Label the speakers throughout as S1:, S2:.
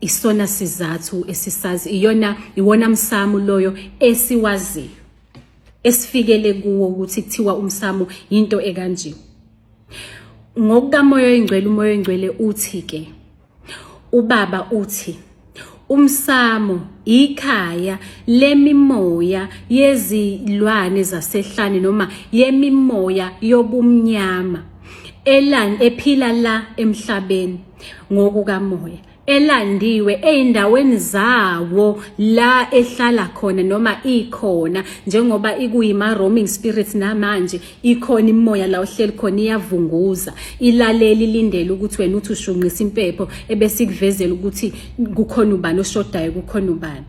S1: isona sizathu esisazi iyona iwona msamo loyo esiwaziyo esifikele kuwo ukuthi kuthiwa umsamo into ekanje ngokukamoya oyingcwele umoya oyingcwele uthi ke ubaba uthi umsamo ikhaya lemimoya yezilwane zasehlane noma yemimoya yobumnyama elan ephila la emhlabeni ngokukamoya elandiwe ezindaweni zawo la ehlala khona noma ikhona njengoba ikuyima roaming spirits namanje ikhona imoya la ohleli khona iyavunguza ilaleli lindele ukuthi wena uthi ushunqisa impepho ebesikuvezela ukuthi kukhona ubani oshodayo kukhona ubani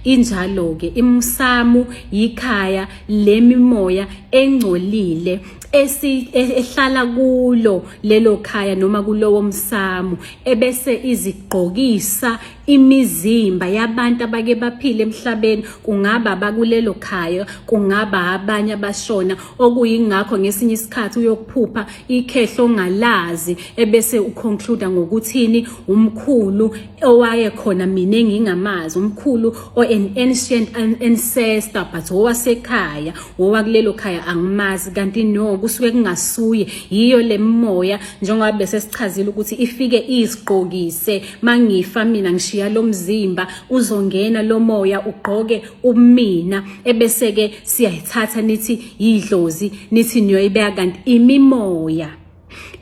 S1: injalo-ke imsamu yikhaya lemimoya engcolile esi e, ehlala kulo lelo khaya noma kulowo msamo ebese izigqokisa imizimba yabantu abake baphile emhlabeni kungaba abakulelo khaya kungaba abanye abashona okuyingakho ngesinye isikhathi uyokuphupha ikhehlo ongalazi ebese uconclude ngokuthini umkhulu owaye khona mina engingamazi umkhulu o an ancient ancestor but owasekhaya wowakulelo khaya angimazi kanti no kusuke kungasuye yiyo le mimoya njengoba bese sichazile ukuthi ifike iziqokise mangifa mina ngishiya lo mzimba uzongena lo moya ugqoke umina ebese-ke siyayithatha nithi yidlozi nithi niyoyibeka kanti imimoya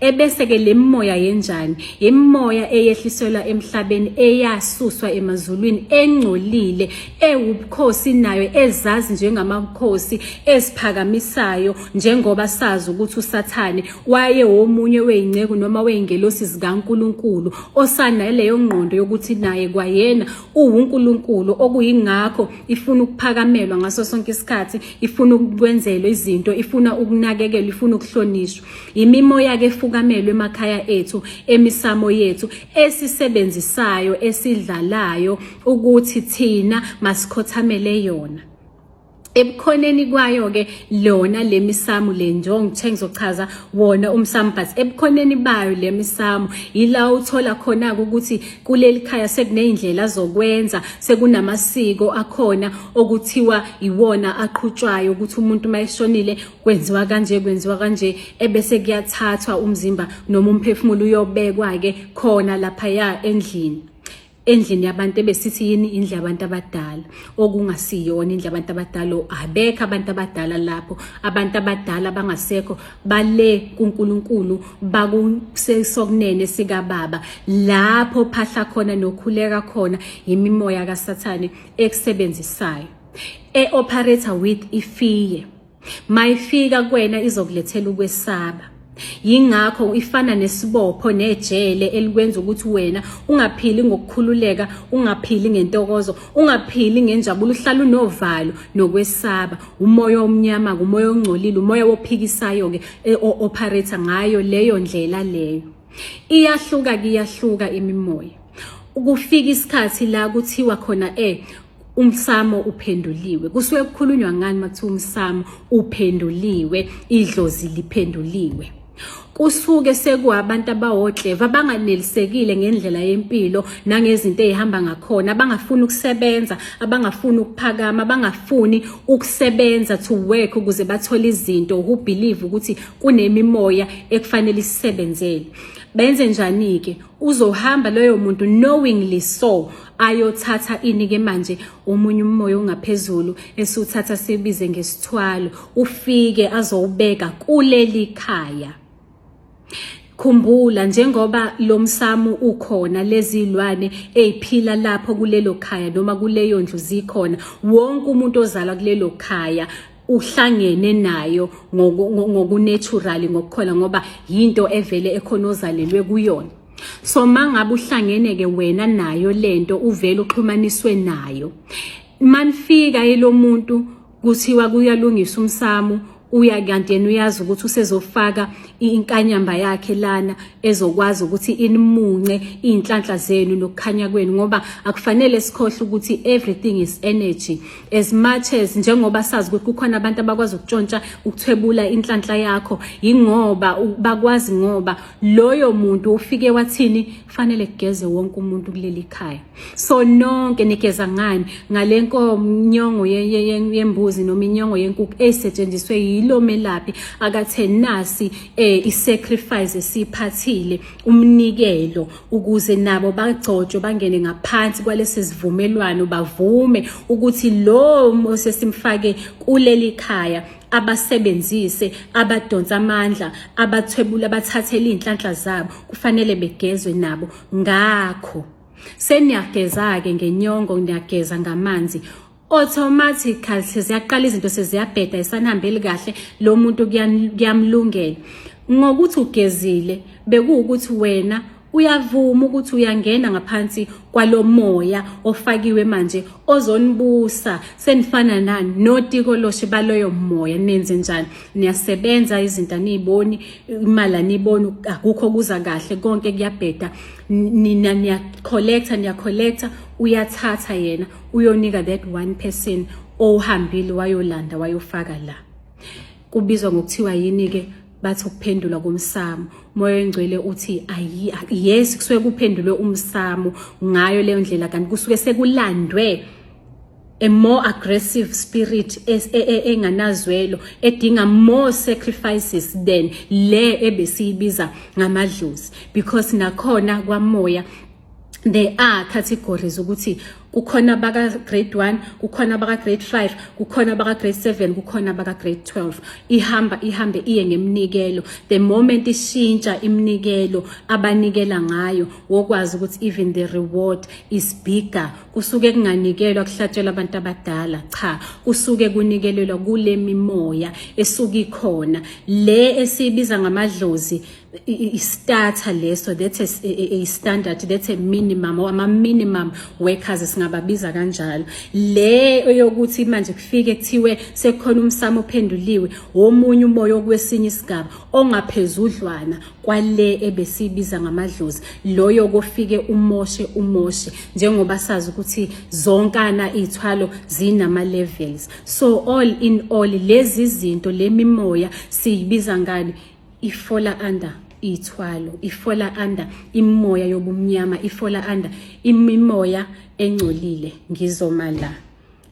S1: ebese-ke le mimoya yenjani imimoya eyehliselwa emhlabeni eyasuswa emazulwini engcolile ewubukhosi nayo ezazi njengamakhosi esiphakamisayo njengoba sazi ukuthi usathane waye womunye weyinceku noma weyingelosi zikankulunkulu osanaleyo ngqondo yokuthi naye kwayena uwunkulunkulu okuyingakho ifuna ukuphakamelwa ngaso sonke isikhathi ifuna ukwenzelwa izinto ifuna ukunakekelwa ifuna ukuhlonishwa Yimimoya ke fukamelwe emakhaya ethu emisamo yethu esisebenzisayo esidlalayo ukuthi thina masikhothamele yona ebukhoneni kwayo ke lona lemisamu le njongo ngithe ngizochaza wona umsamu but ebukhoneni bayo lemisamu yila uthola khona ukuthi kuleli khaya sekunezindlela zokwenza sekunamasiko akhona okuthiwa iwona aqhutshwayo ukuthi umuntu mayeshonile kwenziwa kanje kwenziwa kanje ebese kuyathathwa umzimba noma umphefumulo uyobekwa ke khona lapha ya endlini endlini yabantu ebesithi yini indlu yabantu abadala okungasiyona indlu yabantu abadala abekho abantu abadala lapho abantu abadala bangasekho bale kuNkulunkulu bakusesokunene sikababa lapho phahla khona nokhuleka khona yimimoya kaSathane ekusebenzisayo e operator with ifiye mayifika kwena izokulethela ukwesaba yingakho ifana nesibopho nejele elikwenza ukuthi wena ungaphili ngokukhululeka ungaphili ngentokozo ungaphili ngenjabulo uhlala unovalo nokwesaba umoya omnyama umoya ongcolile umoya wophikisayo ke e, operator ngayo leyo ndlela leyo iyahluka kuyahluka imimoya ukufika isikhathi la kuthiwa khona eh umsamo uphenduliwe kusuke kukhulunywa ngani makuthiwa umsamo uphenduliwe idlozi liphenduliwe kusuke sekuwabantu abawotleva abanganelisekile ngendlela yempilo nangezinto ezihamba ngakhona abangafuni ukusebenza abangafuni ukuphakama abangafuni ukusebenza to work ukuze bathole izinto who believe ukuthi kunemimoya ekufanele isisebenzele benze njani-ke uzohamba loyo muntu knowingly so ayothatha ini ke manje omunye umoya ongaphezulu esuthatha sibize ngesithwalo ufike azowubeka kuleli khaya Khumbula njengoba lomsamo ukhona lezilwane eziphila lapho kulelo khaya noma kuleyo ndlu zikhona wonke umuntu ozalwa kulelo khaya uhlangene nayo ngokunatural ngokukhona ngoba yinto evele ekhona ozalelwe kuyona so mangabe uhlangene ke wena nayo lento uvele uxhumaniswe nayo manifika elomuntu kuthiwa kuyalungisa umsamo uya kanti yena uyazi ukuthi usezofaka inkanyamba yakhe lana ezokwazi ukuthi inimunce izinhlanhla zenu nokukhanya kwenu ngoba akufanele sikhohle ukuthi everything is energy as much as njengoba sazi ukuthi kukhona abantu abakwazi ukutshontsha ukuthwebula inhlanhla yakho yingoba bakwazi ngoba loyo muntu ufike wathini kufanele kugeze wonke umuntu kuleli khaya so nonke nigeza ngani ngale nkomnyongo yembuzi noma inyongo yenkukhu esetshenziswe yilo melaphi akathe nasi eh isacrifice esiphathile umnikelo ukuze nabo bagcotshwe bangene ngaphansi kwalesi sivumelwano bavume ukuthi lo osesimfake kuleli khaya abasebenzise abadonsa amandla abathwebula abathathele izinhlanhla zabo kufanele begezwe nabo ngakho seniyageza-ke ngenyongo niyageza ngamanzi automatically seziyaqala izinto seziyabheda esanihambeli kahle lo muntu kuyamlungela ngokuthi ugezile bekuwukuthi wena Uyavuma ukuthi uyangena ngaphansi kwalomoya ofakiwe manje ozonibusa senifana nani notiko loshe baloyo moya nenze njani niyasebenza izinto aniyiboni imali aniyiboni akukho kuza kahle konke kuyabheda nina niya collector niya collector uyathatha yena uyonika that one person ohambile wayolanda wayofaka la kubizwa ngokuthiwa yini-ke bathi ukuphendulwa komsamo umoya oyingcwele uthi ayi yes kusuke kuphendulwe umsamo ngayo leyo ndlela kanti kusuke sekulandwe a more aggressive spirit e, e, e, enganazwelo edinga more sacrifices than le ebesiyibiza ngamadlozi because nakhona kwamoya there are categories ukuthi kukhona abaka-grade 1 kukhona abaka-grade 5 kukhona abaka-grade 7 kukhona abaka-grade 12 ihamba ihambe iye ngeminikelo the moment ishintsha iminikelo abanikela ngayo wokwazi ukuthi even the reward is bigger kusuke kunganikelwa kuhlatshelwa abantu abadala cha kusuke kunikelelwa kule mimoya esuke ikhona le esiyibiza ngamadlozi istarter leso that's a, a, a standard that's a minimum or ama minimum workers singababiza kanjalo le eyokuthi manje kufike kuthiwe sekhona umsamo ophenduliwe womunye umoya okwesinye isigaba ongaphezudlwana kwale ebesibiza ngamadlozi loyo kofike umoshe umoshe njengoba sazi ukuthi zonkana izithwalo zinama levels so all in all lezi zinto lemimoya siyibiza ngani ifola under ithwalo ifola under imimoya yobumnyama ifola under imimoya engcolile ngizoma la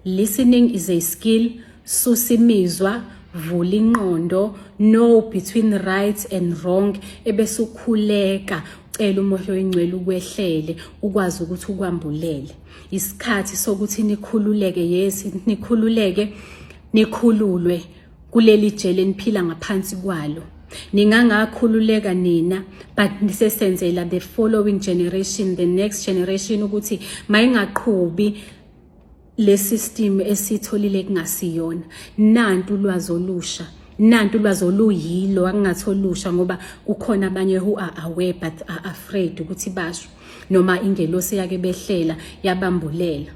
S1: listening is a skill susimizwa vula inqondo know between right and wrong ebese ukhuleka ucela umoya oyingcwele ukwehlele ukwazi ukuthi ukwambulele isikhathi sokuthi nikhululeke yes nikhululeke nikhululwe kuleli jele niphila ngaphansi kwalo ningangakhululeka nina but nisesenzela the following generation the next generation ukuthi mayingaqhubi le system esitholile kungasiyona nantu ulwazi olusha nantu ulwazi oluyilo akungathi olusha ngoba kukhona abanye who are aware but are afraid ukuthi basho noma ingelosi yake behlela yabambulela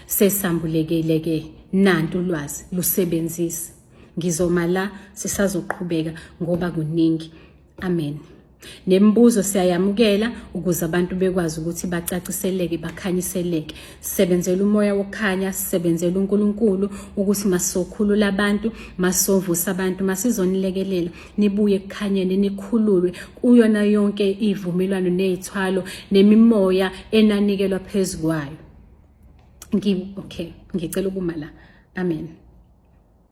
S1: Sesambulekile ke nantu ulwazi lusebenzise. Ngizoma la sisazoqhubeka ngoba kuningi. Amen. Nemibuzo siyayamukela ukuze abantu bekwazi ukuthi bacaciseleke bakhanyiseleke. Sisebenzela umoya wokukhanya, sisebenzela uNkulunkulu ukuthi masokhulula abantu, masovusa abantu, masizonilekelela. nibuye ekukhanyeni nikhululwe kuyona yonke ivumelwano nezithwalo nemimoya enanikelwa phezukwayo ngi okay ngicela ukuma la amen